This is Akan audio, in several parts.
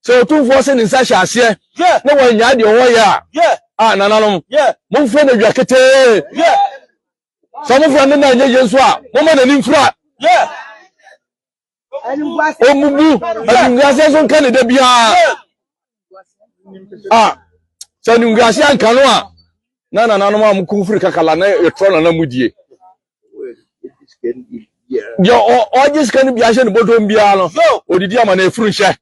Sɛ Otumfoɔ se ne nsa hyɛ aseɛ na wannyae deɛ ɔwɔ yɛ a, a nananom, momfrɛ no awia ketee. Sɛ momfrɛ no na ɛnyɛ yie nso a, momma n'ani mfira. Ɔmmubu animguaseɛ nso nka ne da biara. A sɛ animguaseɛ anka no a, na nananom a mokuru firi kakala na yɛtrɔ nana mudie. deɛ ɔgye sika no bi ahyɛ ne bɔtɔm biara no ɔdidi ama no ɛfuru nhyɛ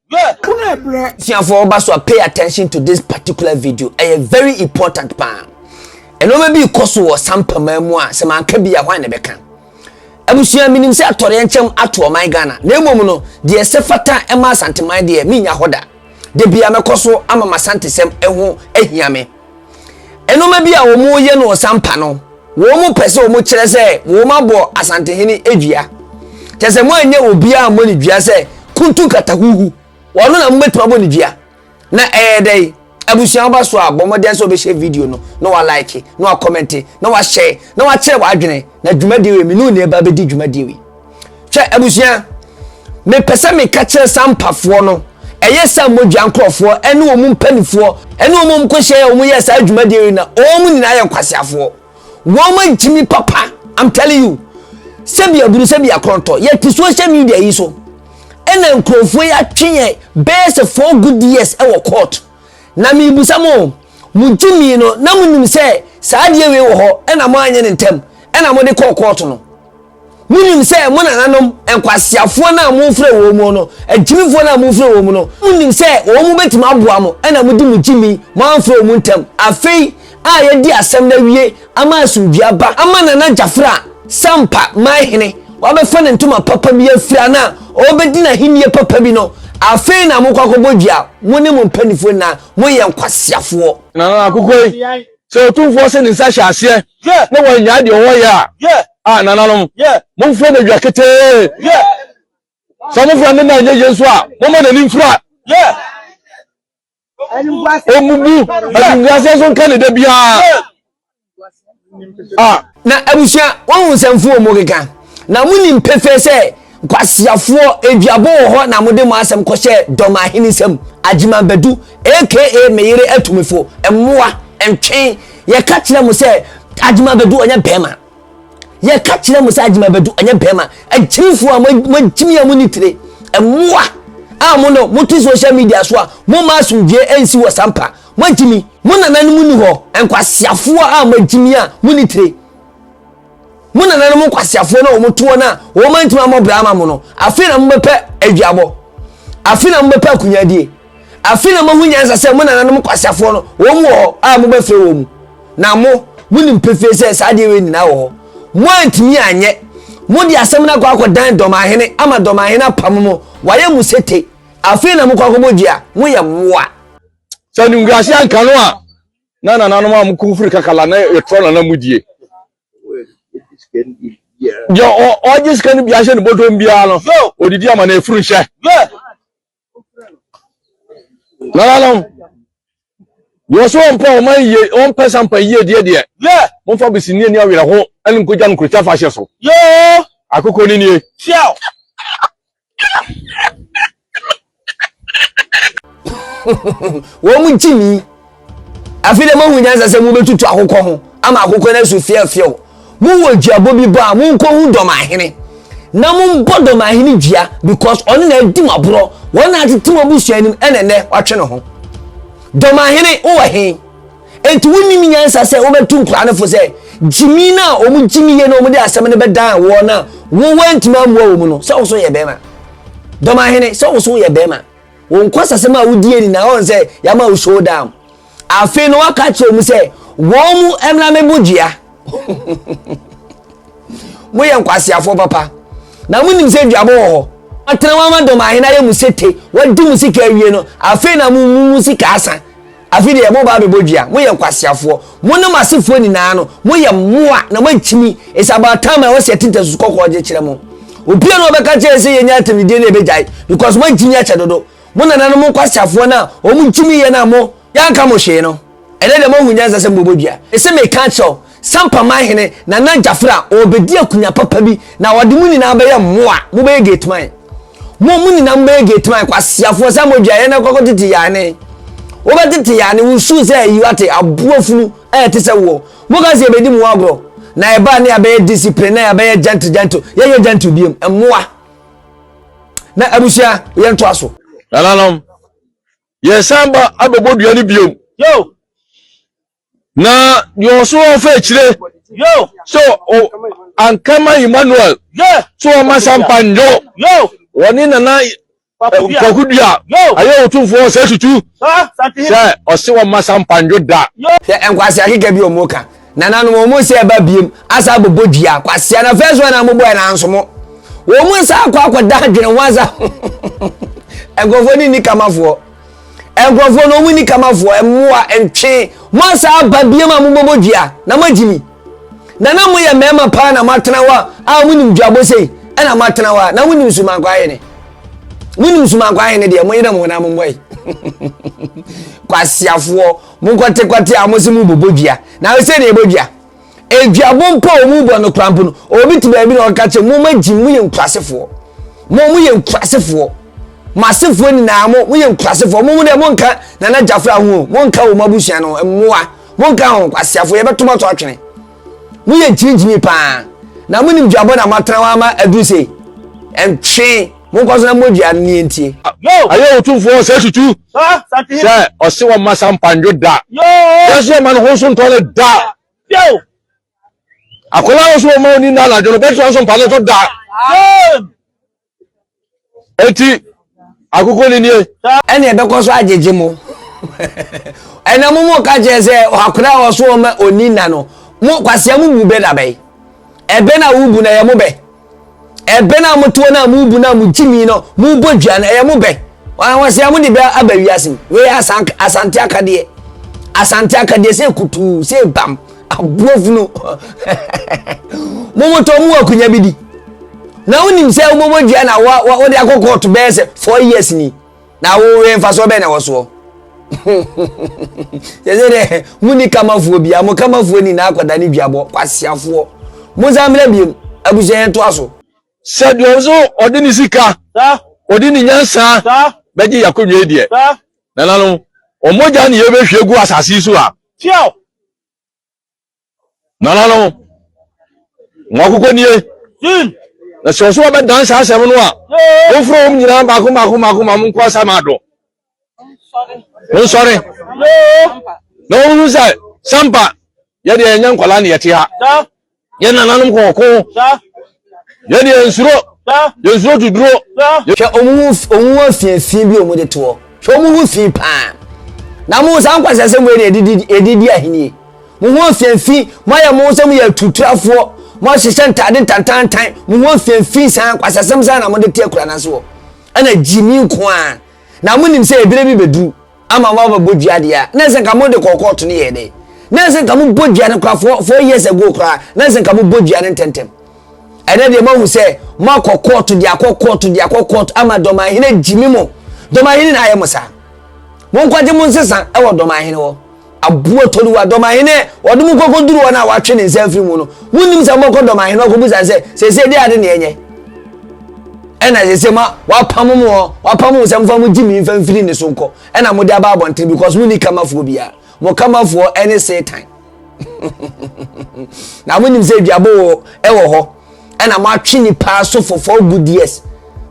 suafoɔ ba so a pay attention to this particular video ɛyɛ very important paa ɛnɔma bi kɔ so wɔ sampama mu a sɛ manka bi a hwan na ɛbɛka abusua menim sɛ atɔreɛ nkyɛm ato ɔman ghana na mmom no deɛ sɛ fata ɛma asanteman deɛ menya hɔ da da bia mɛkɔ so ama masantesɛm ɛho ahia me Nnoɔma bi a wɔyɛ no ɔsampa no, wɔn pɛ sɛ wɔn kyerɛ sɛ wɔn abɔ Asantehene dua. Kyɛ sɛ moanyɛ obiara mmɔ ne dua sɛ kuntu nkatahuhu. Wɔn na mobɛtumi abɔ ne dua. Na ɛyɛ dɛn? Abusua woba so a, bɔ mmɔden sɛ wobɛhyɛ video no, na walike, na wakɔmɛnte, na wahyɛ, na wakyerɛ w'adwene. Na dwumadie wei, mene onii ɛba bɛdi dwumadie wei. hwɛ abusua mepɛ sɛ meka kyerɛ saa mpafoɔ no ɛyɛ saa mogya nkorɔfoɔ ɛne wɔn mpanimfoɔ ɛne wɔn a wɔkɔhyia yɛ wɔn yɛ saa adwumadeɛ yi na wɔn nyinaa yɛ nkwaseafoɔ wɔn agyimi papa i'm telling you sɛbi aburu sɛbi akɔntɔ yɛte social media yi so ɛna nkurɔfoɔ yi atwe yɛn bɛyɛ sɛ four good years ɛwɔ court na mebusa mo mo gyimi no na mo nim sɛ saa adeɛ wei wɔ hɔ ɛna mo anyɛ ne ntɛm ɛna mo de kɔɔ court no Monim sɛ mo nananom, nkwaseafoɔ no a mofrɛ wɔn mu no, agyimifoɔ no a mofrɛ wɔn mu no, monim sɛ wɔn mu bɛtumi aboa mo, ɛna mode mo gyimi, moamfrɛ wɔn mu ntɛm. Afei a yɛadi asɛm no awie ama asomdwie aba ama Nana Gyafra, Sampa man hene, wabɛfa ne ntoma papa bi afira no a ɔrebɛdi n'ahennie papa bi no, afei na mokɔ akɔbɔ dua, mo ne mo mpanimfoɔ nyinaa, moyɛ nkwaseafoɔ. Nana Akukoi, Sɛ Otumfoɔ se ne nsa hyɛ aseɛ na wannyae deɛ ɔwɔ yɛ a, a nananom, momfrɛ no awia ketee. Sɛ mofrɛ no na ɛnyɛ yie nso a, momma n'ani mfira. Ɔmmubu animguaseɛ so nka ne da biara. Na abusua, woahu nsɛmfo wɔ mu keka, na munim pefee sɛ nkwaseafoɔ aduabo wɔ hɔ na mode mo asɛm kɔhyɛ dɔm ahene nsam, Agyeman Badu aka me yere atu me fo, mmoa, ntwen, yɛka kyerɛ mo sɛ Agyeman Badu ɔnyɛ bɛrima, yɛka kyerɛ mo sɛ Agyeman Badu ɔnyɛ bɛrima, akyirifoɔ a moakyimi a monni tire, mmoa, a mo no mote social media so a momma asomdwoeɛ nsi wɔ Sampa, Moagye me, mo nananom nni hɔ, nkwaseafoɔ a moagye me a monni tire. Mo nananom nkwaseafoɔ no a wɔto wɔn a wɔantumi ammɔ bra ama mo no, afei na mobɛpɛ aduabɔ, afei na mobɛpɛ akunyadie, afei na moahu nyansa sɛ mo nananom nkwaseafoɔ no wɔn wɔ hɔ a mobɛfrɛ wɔn mu. Na mo, monim pefee sɛ saa adeɛ wei nyinaa wɔ hɔ. Moantumi anyɛ. Mode asɛm no akɔ akɔdan dɔmahene ama dɔmahene apamo mo, wayɛ mo sete, afei na mokɔ akɔbɔ dua. Moyɛ mmoa. sɛ animguase anka no a na nananom a wɔkɔ firi kakala na yɛtrɔ nana mu die deɛ ɔgye sika no bia hyɛ ne bɔdɔm biara no ɔdidi ama na ɛfuru nhyɛ nananom deɛ ɔsɛ ɔmpɛ ɔma yie ɔmpɛ sampa yie deɛ deɛ momfa besini ani awerɛ ho ɛne nkogya no nkurokya fa hyɛ so akokɔ no nie wɔn mu gye mi afei dɛ moahu nyansa sɛ mobɛtutu akokɔ ho ama akokɔ no asu fiafiaw mowɔ duabɔ bi bɔ a monkɔhu dɔm ahene na mombɔ dɔm ahene dua because ɔno na adi mo aborɔ wɔn na atete mo abusua anim ɛna nnɛ watwe ne ho dɔm ahene wowɔ he Enti wonnim nyansa sɛ wobɛtu nkwadaa no fo sɛ, gyimi no a wɔgyimi yie na wɔde asɛm no bɛdan wɔn a wo woantumi ammoa wɔn no, sɛ wo nso yɛ barima. Dɔm ahene, sɛ wo nso woyɛ barima. Wo nkwasasɛm a wodie ni na wɔn sɛ yɛama wo showdown. Afei no waka akyerɛ wɔn sɛ wɔn mu mmra me bo dua. Moyɛ nkwaseafoɔ papa. Na monim sɛ duabɔ wɔ hɔ. Atena wɔn ama dɔm ahene ayɛ mu sete, wɔadi mu sika awie no, afei na mo mu sika asa. Afei deɛ, moreba abɛbɔ dua. Moyɛ nkwaseafoɔ. Mo ne mo asefoɔ nyinaa no, moyɛ mmoa, na moakyini. It's about time a ɛwɔ sɛ yɛte ntasusu kɔkɔɔ gye kyerɛ mo. Obiara na ɔbɛka kyerɛ yɛn sɛ yɛnyɛ atɛmdidie no, yɛbɛgyae, because moakyini akyɛ dodo. Mo nananom nkwaseafoɔ no a wɔkyiniiɛ no a mo, yɛanka mo hwee no, ɛnnɛ deɛ moahu nyansa sɛ mobɛbɔ dua. Mese meka akyerɛ wo. Sampaman hene Nana Gyafra ɔrebɛdi akunya papa bi na ɔde mo nyinaa bɛyɛ mmoa, mobɛyɛ gate man. Mo, mo nyinaa mobɛyɛ gate man, kwaseafoɔ, sɛ modua yɛn na kɔkɔ tete yane. Wobɛtete yane, wo suu sɛ ayi wate, aboa funu a ɛte sɛ woɔ. Moka sɛ yɛbɛdi mo agorɔ, na yɛbaa ne yɛabɛyɛ discipline, na yɛabɛyɛ gentle gentle, yɛnyɛ gentle biom, mmoa. Na abusua, yɛn toa so. Nananom, yɛsan ba abɛbɔ dua no biom. Yo! Na deɛ ɔso ɔfa akyire sɛ ankama Emmanuel sɛ ɔma sampa nnwo wɔne nana Kwaku Dua ayɛ otumfoɔ ɔsɛ tutu sɛ ɔse wɔma sampa nnwo da. Hwɛ nkwasea keka bi ɔmo ka nananom ɔmo sɛ ɛba biem asa abobɔ dua kwasea na first one a mo bɔɛ nanso mo wɔn nsa akɔ akɔda adwene ho asa nkorɔfoɔ ne nni kamafoɔ. nkurɔfoɔ no wɔn ni kamafoɔ mmoa ntwe mo asa aba biam a mobɛbɔ dua na moagye mi na na moyɛ mmarima paa na moatena hɔ a monim dwabɔ sei ɛna moatena hɔ a na monim sumankɔ ahene monim sumankɔ ahene deɛ moyere mo na mommɔ yi kwasiafoɔ monkɔtekwate a mo se mobɔbɔ dua na sɛ ne ɛbɔ dua Aduabo mpo a wɔn bɔ no koraa mpo no, obi te baabi na ɔka kyerɛ mo ma gyi mo yɛ nkurasefoɔ. Mo mo yɛ nkurasefoɔ. Mo asefoɔ nyinaa mo mo yɛ nkurasefoɔ. Mo mo deɛ mo nka nana gyafra ho o, mo nka wɔn abusua no mmoa, mo nka ho kwasiafoɔ yɛbɛto mo ato atwene. Mo yɛ gyimigyimi paa. Na mo nim duabɔ na mo atena hɔ ama aduru sei. Ɛntwe. Monkɔ so na mogyaa no nie ntie. Ayɛ Otumfoɔ ɔsɛe tutu sɛ ɔse wɔmma sampa ndwo da. Yɛn so yɛmma no ho so ntɔ no da. Akwadaa no so wɔmma ɔni nna anadwo no bɛtena nso mpa no so da. Eti akoko ne nie. Ɛne ɛbɛkɔ so agyegye mo. Ɛna mo mo ka kyerɛ sɛ akwadaa a ɔso wɔmma ɔni nna no mo kwasia mo bu bɛ dabɛn. Ɛbɛ na wobu na yɛ mo bɛ. Ɛbɛn a motoɔ no a mobu no a mogye mi no mobɔ dwa no ɛyɛ mo bɛ wɔsɛ a mode bɛ aba wiase mu wei asante akadeɛ asante akadeɛ sɛ kutuu sɛ bam aboafunu momotɔ mu akunya bi di na wonim sɛ wobɔbɔ dua na wode akɔ kɔɔto bɛyɛ sɛ 4 years ni na wowe mfasoɔ bɛn na ɛwɔ soɔ yɛsɛ dɛ muni kamafoɔ bia mo kamafoɔ nyinaa akɔda ne duabɔ kwasiafoɔ mo nsa mmerɛ biom abusua yɛn toa so sɛdeɛ nso ɔde ne sika ɔde ne nyansa bɛgye yɛakɔnwa deɛ nananom ɔmɔgya ne yɛbɛhwie gu asase so a Nananom, mo akokɔ nie. Na sɛ ɔso wɔbɛdan saa asɛm no a, momfrɛ wɔn nyinaa baako baako baako ma monkɔ asa ma ado. Monsɔre. Na wɔhu sɛ sampa yɛdeɛ yɛnyɛ nkwadaa ne yɛte ha. Yɛ nananom kɔɔko. Yɛn deɛ nsuro, yɛn nsuro duduro. Hwɛ ɔmo ho ɔmo ho afiafia bi a ɔmo de toɔ. Hwɛ ɔmo ho fi paa. Na mo saa nkwasasɛm wei na yɛde yɛde di ahennie. Mo ho afiafi, mo ayɛ mo ho sɛ mo yɛ atuturafoɔ, mo ahyehyɛ ntaade ntantantan, mo ho afiafi saa nkwasasɛm saa na mo de te akura no ase hɔ. Ɛna gyimi nko ara. Na mo nim sɛ ebire bi bɛduru. Ama mo abɛbɔ dua deɛ a, na ɛsɛ nka mo de kɔɔ kɔɔto no yɛɛ dɛ. Na ɛsɛ nka mo bɔ dua no koraa four four years ago koraa, na ɛsɛ nka mo bɔ dua no ntɛntɛm. Ɛnɛ deɛ mo ahu sɛ mo akɔ kɔɔto deɛ akɔ kɔɔto deɛ akɔ kɔɔto ama dɔmanhene gyimi mo. Dɔmanhene na ayɛ mo saa. Mo nkɔgye mo nsesa ɛwɔ dɔmanhene hɔ. Aboa Toriwa, Dɔmahene, wɔde mo kɔkɔduru wɔn a wɔatwe ne nsa afiri mu no. Monnim sɛ mobɛkɔ Dɔmahene hɔ akɔbisa no sɛ, Seesei dɛn ade na yɛnyɛ? Ɛna seesei ma wɔapamo mo hɔ, wɔapamo mo sɛ momfa mo gyimii mfa mfiri ne so nkɔ, ɛna mode aba abɔnten because monni kamafoɔ biara. Mo kamafoɔ ne Satan. Na monim sɛ aduabo wɔ hɔ, ɛna moatwe nnipa asofo for good years.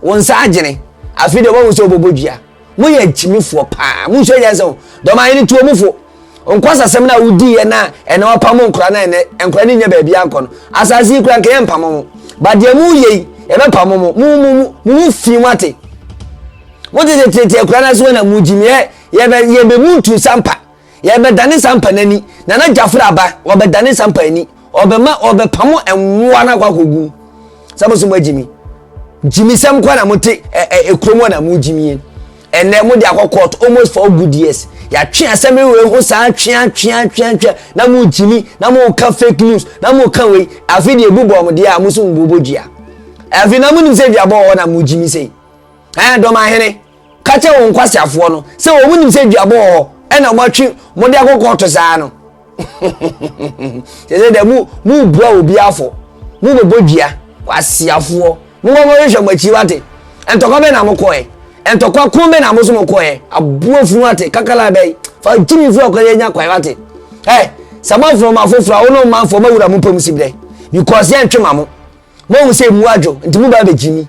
Wo nsa agyene. Afei deɛ wɔahu sɛ wobɛbɔ dua. mo yɛ gyimifoɔ paa mo nso yɛ sɛ dɔm ahene tuo mo fo nkwasasɛm no a wodi yɛ na ɛna wapam nkora na ɛnɛ nkora no nyɛ baabi ankɔ no asase yi kura nka yɛ mpam mo badeɛ mo yɛ yi ɛbɛpam mo mo mo mo mo ho fi mo ate mo tete tete akura no ase wɔ na mo gyimi yɛ yɛ bɛ yɛ bɛ mu ntu sampa yɛbɛdane sampa no ani na na gyafra aba wɔbɛdane sampa ani ɔbɛma ɔbɛpamo mmoa no akɔ akɔgu sɛ mo so mo agyimi gyimisɛm kɔ na mote ɛkurom hɔ na mo gyimie ɛnɛ mo de akɔ court almost for good years yɛatwe asɛm wei ho saa twea twea twea twea na mo gyimi na mo ka fake news na mo ka wei afei deɛ ebu bɔn mo deɛ a mo so mo bɔbɔ dua afei na mo nim sɛ dua bɔ hɔ na mo gyimi sɛ ɛn dɔm ahene ka kyerɛ wɔn nkwaseafoɔ no sɛ wɔn nim sɛ duabɔ wɔ hɔ ɛna wɔn atwi wɔn de akɔ kɔɔto saa no yɛsɛ dɛ mu mu bua obi afɔ mu bɛ bɔ dua kwaseafoɔ mo bɔ bɔ hwehwɛ mo akyi wate ntɔkwa bɛ na mo kɔɛ ntɔkwa kun bɛ na mo so mo kɔɛ aboa funu wate kakala bɛ fa gyi mi fura kɔɛ nya kɔɛ wate ɛ sɛ mo afɔ mo afoforo a wɔn mo afɔ mo awura mo pɛm si brɛ because yɛn ntwe ma mo mo ahu sɛ mu adwo nti mo ba bɛ gyi mi.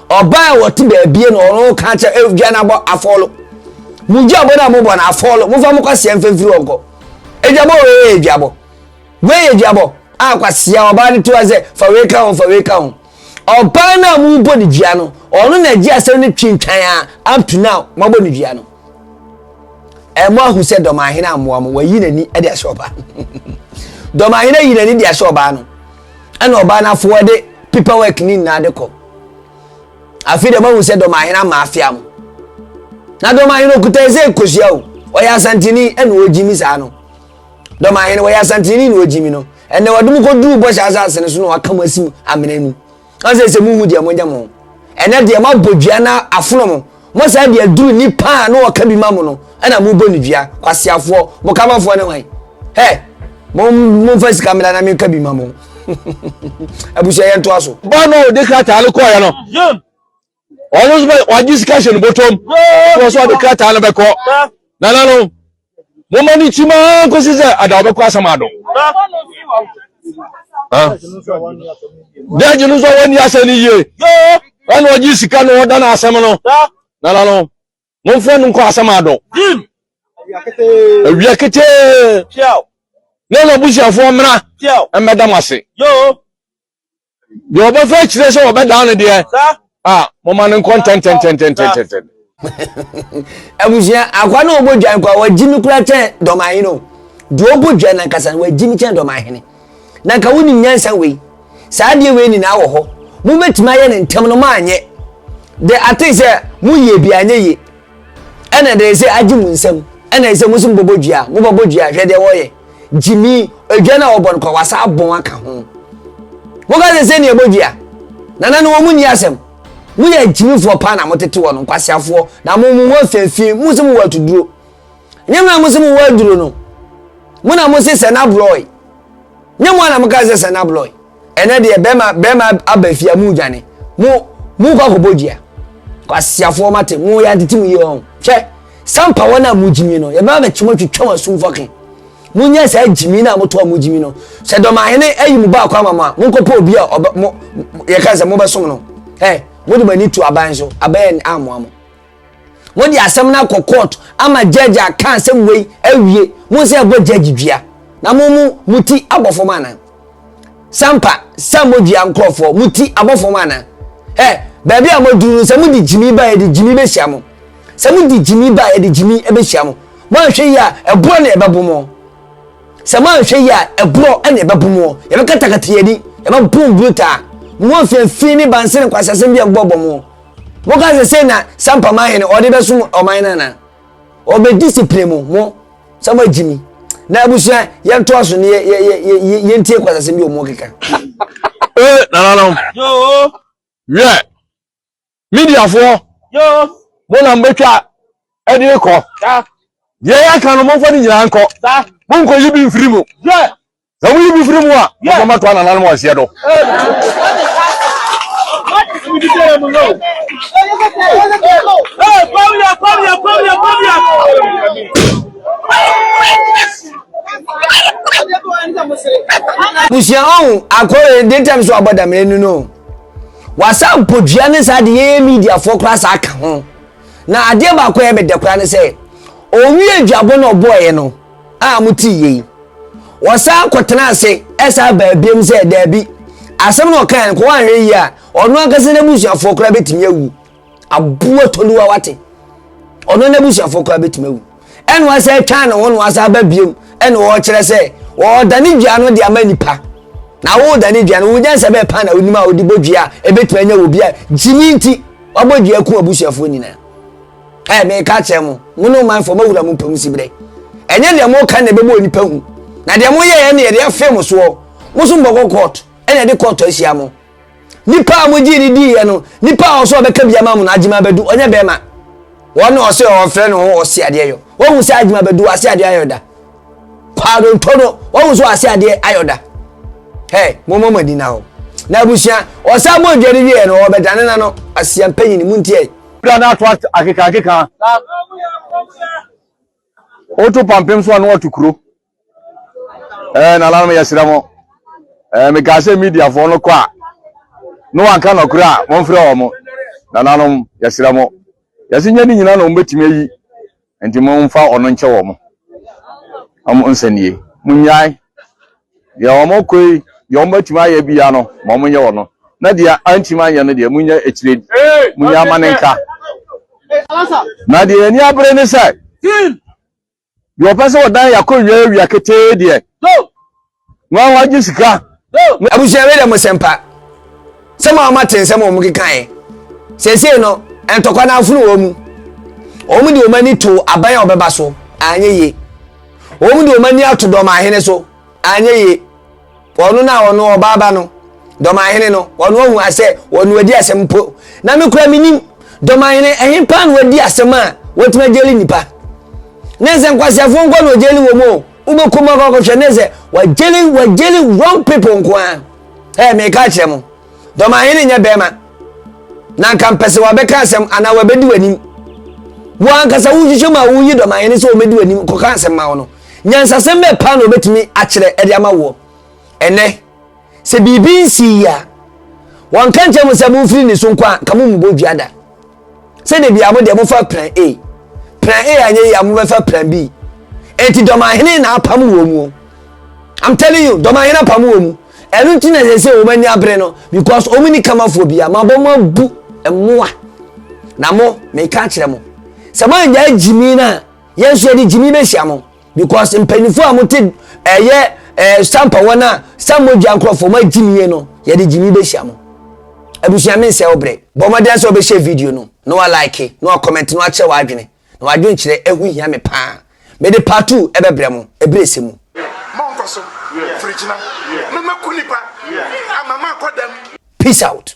Ɔbaa a ɔte baabie no ɔno ka kyɛ eh, dwa no abɔ afɔlo. Mo dwa bɔ no a mobɔ no afɔlo. Mofa mo kwasia mfa mfiri hɔ nkɔ. Edwa bɔ wei yɛ edwa bɔ. Wei yɛ edwa bɔ. A kwasia ɔbaa no to a sɛ fa wei ka ho fa wei ka ho. Ɔbaa no a mobɔ no dua no ɔno na agye asɛm no twintwan a up to now moabɔ no dua no. Ɛmo eh, ahu sɛ dɔmahene ammoa mo wayi n'ani de ahyɛ ɔbaa no. dɔmahene ayi n'ani de ahyɛ ɔbaa no. ɛna ɔbaa no afo ɔde paper work ne nyinaa de kɔ afei deɛ mahu sɛ dɔmahene ama afea mo na dɔmahene okuta ɛsɛ kosua o ɔyɛ asantini ɛna ɔgyi mi saa no dɔmahene wɔyɛ asantini na ɔgyi mi no ɛnna wɔde mu kɔduu bɔhyɛ asase no so na wɔaka mo asi amena mu ɔsɛ sɛ muhu deɛ mogya mo ɛnɛ deɛ moabɔ dua na afono mo Mo saa de aduru nipa a na wɔka bi ma mo no na mo bɔ no dua kwaseafoɔ mo kamafoɔ ne hwan hɛ mo mo nfa sika mmra na menka bi ma mo abusua yɛn toa so. bɔn na ɔde krataa no kɔɔyɛ no ɔno nso bɛ wagye sika hyɛ ne bɔtɔm wɔn nso ɔde krataa no bɛkɔ nana no. Momma no ntim ara nkosi sɛ ada ɔbɛkɔ asɛm ado. Judge no nso a wɔnni asɛm no yie ɛna ɔgye sika na ɔda no asɛm no nana no momfrɛ no nkɔ asɛm ado awia ketee na na abusuafoɔ mmra mmɛda mo ase deɛ ɔbɛfa akyire sɛ ɔbɛdaa no deɛ a moma no nkɔ ntɛntɛntɛntɛntɛntɛn abusua akwa na ɔbɔ dwan kwa wagyi me kura kyɛn dɔmahene o deɛ ɔbɔ dwan no ankasa no wagyi me kyɛn dɔmahene na nka wonim nyansa wei saa adeɛ wei nyinaa wɔ hɔ mobɛtumi ayɛ no ntɛm no maanyɛ de ate sɛ moyie bi anyɛ yie Ɛna ɛda ɛsɛ agye mo nsam ɛna ɛsɛ mo nso mobɔbɔ dua a mobɔbɔ dua hwɛ deɛ wɔyɛ gyimi adwa no a wɔbɔ no kɔ wasa abɔn aka ho moka sɛ sɛ nea ɛbɔ dua nana no wɔn mu nni asɛm moyɛ agyimifoɔ paa na motete wɔ no nkwaseafoɔ na mo mo ho afeefee mo sɛ mo wɔ atuduro nyɛ mo na mo sɛ mo wɔ aduro no mo na mo se sɛ na borɔe nyɛ mo na mo ka sɛ sɛ na borɔe ɛnɛ deɛ bɛrima bɛrima aba fie a mu dwane mu mu kɔ akɔbɔ dua kwasiafoɔ ma te mu yɛ atete mu yie wɔn hwɛ sampa wɔn a mu gyimi no yɛbɛma bɛkyɛm atwitwa wɔn asum fɔkin mu nyɛ saa gyimi na mo to a mo gyimi no sɛ dɔmahene ayi mu baako ama mo a mo nkɔpɔ obi a ɔbɛ mo yɛka sɛ mo bɛsom no ɛ mo de mo ani to aban so aban amoa mo. Wɔde asɛm no akɔ kɔɔto ama judge aka asɛm wei awie. Mo nsa ɛbɔ judge dua na mo mo mo ti abɔ fam ana? Sampa sa mo dua nkorɔfoɔ mo ti abɔ fam ana? Ɛ baabi a mo duru no sɛ mo de gyimi ba yɛde gyimi bɛhyia mo. Sɛ mo de gyimi ba yɛde gyimi bɛhyia mo. Mo anhwɛ yi a ɛborɔ na ɛbɛbo mo. Sɛ mo anhwɛ yi a ɛborɔ na ɛbɛbo mo. Yɛbɛkatakata yɛni yɛbɛbo brutaa. Mo mfɛnfin ne banse ne kwasiasɛm bi a ɛbɔbɔ mo. Moka sɛ sei na Sampa ma hene ɔde bɛsom ɔman no anaa? Ɔbɛdi sipire mo mo sɛ moagye mi. Na abusua yɛntoa so ne yɛntie kwasasɛm bi ɔmo keka. Ee nananom. Wiɛ mediafoɔ mo na mbɛtwa ɛde kɔ. Deɛ yɛaka no momfa ne nyinaa nkɔ. Monkɔyi bi mfiri mu. Na mo yi mo firi mu a, mo fɔ ma to anana no mo aseɛ do. Busua ɔn akɔre de tɛm so abɔ dam enu no wasa mpodua ne saa de yɛyɛ media foɔ koraa saa ka ho na adeɛ baako a ɛbɛdɛ koraa ne sɛ ɔwie dwabɔ na ɔbɔɔyɛ no a wɔtee yei. Wɔsan kɔtenaa ase ɛsan baa biom sɛ daabi, asɛm na ɔkae no kɔ wɔanhwɛ yie a, ɔno ankasa n'abusuafoɔ koraa bɛtumi awu. Aboɔ toluwa wate. Ɔno n'abusuafoɔ koraa bɛtumi awu. Ɛna wɔasɛ atwa ne ho na wɔasɛ aba biom ɛna wɔrekyerɛ sɛ wɔredane dua no de ama nipa. Na woredane dua no, wo nyansa bɛɛ paa na wonim a wode bɔ dua a ɛbɛtumi anya wɔ bi a gyimi nti wabɔ dua ku abusuafoɔ nyinaa. Ɛɛ, mereka akyerɛ mo, mo ne ɔmanfoɔ moawura mo pɛ mu siberɛ. Ɛnyɛ deɛ moka na ɛbɛbɔ onipa hu, na deɛ moyɛeɛ no yɛde afee mo soɔ. Mo nso mobɛkɔ kɔɔto, ɛna yɛde kɔɔto ahyia mo. Nipa a mogyee no diiɛ no, nipa a ɔsɛ ɔbɛka bi ama mo no, Agyima Badu, ɔnyɛ bɛrima. Wɔn na ɔsɛ ɔfrɛ ne ho Ɔseadeɛyɔ. Wahu sɛ Agyima Badu, Aseadeɛ ayɔ da. Kwaadonto no, wahu sɛ Ɔaseadeɛ ayɔ da. Hɛ, mommɔ mo ani na hɔ. Na abusua, ɔsan bɔ dwa no wieɛ no, ɔbɛdane n'ano. Asiampanyini, montie. Bra na ato akeka akeka. Oto pampem so ano ato kuro. Eh na lanom yɛ srɛ mo. Eh me kaa sɛ media fo no kɔ a. No wanka no kura a mo mfrɛ wɔ mo. Na lanom yɛ srɛ mo. Yɛsi nyɛ ne nyina na wɔn betumi ayi. Enti momfa wɔn nkyɛ wɔn, wɔn nsɛnnii. Monnyae. Deɛ wɔkɔ yi, deɛ wɔatumi ayɛ biara no, ma wɔnyɛ wɔn. Na deɛ antumi anyɛ no deɛ, monyɛ akyire, monyɛ amane nka. Na deɛ ani abere ne sɛ, deɛ ɔpɛ sɛ ɔdan yɛ akɔwia awia ketee deɛ, Wɔn wɔn gye sika. Abusua wei dɛ mo sɛmpa. Sɛm a wɔn ate nsɛm a wɔn kekaeɛ. Sɛsɛɛ no, ntɔkwa na afunu wɔn mu. Wɔn de wɔn ani to aban a wɔbɛba so, anyɛ yie. Wɔn de wɔn ani ato dɔmanhene so, anyɛ yie. Wɔn na wɔn ɔbaa ba no, dɔmanhene no, wɔn ahu asɛ wɔn wadi asɛm mpo. Na me kura me nim, dɔmanhene ɛhe paa na wadi asɛm a wɔtumi agyeli nipa. Ne nsɛnkwasiafoɔ nkɔ na wɔgyeli wɔn o. Wobɛkɔ mu akɔakɔhwɛ ne sɛ wagyeli wagyeli wrong people nko ara. Ɛɛ meka akyerɛ mo, dɔmahene nyɛ bɛrima na nka mpɛ sɛ wabɛka asɛm anaa wabɛdi w'anim. Wo ankasa wohwehwɛ mu a woyi dɔmahene sɛ wɔbɛdi w'anim kɔka asɛm ma wo no. Nyansasɛm bɛɛ paa na wɔbɛtumi akyerɛ ɛde ama woɔ. Ɛnɛ, sɛ biribi nsii a, wɔnka nkyerɛ mo sɛ momfiri ne so nkɔ a, nka mommobɔ dua da. sɛ de bia mo deɛ mofa plan a plan a anyɛ yi a mobɛfa plan b enti dɔmahene na apam wɔ mu i'm telling you dɔmahene apam wɔ mu ɛno nti na yɛsɛ wɔn ani abere no because wɔn ni kamafoɔ bia ma bɔ mo abu mmoa na mo meka akyerɛ mo sɛ mo anya gyimi no a yɛn nso yɛde gyimi bɛhyia mo because mpanyinfoɔ a wɔte ɛyɛ ɛɛ sampa wɔn a sammo dwa nkorɔfoɔ wɔn agyi nie no yɛde gyimi bɛhyia mo abusua mi nsɛ ɔbrɛ bɔ ɔmɔden sɛ ɔbɛhyɛ video no na wa like na wa comment na wa kyerɛ wa adwene na wa adwene kyerɛ ehu hia mi paa mede part two ɛbɛbrɛ mo ebire ese mu. mɔnkɔ so firigyina mɛmɛku nipa amama akɔ dɛm. peace out.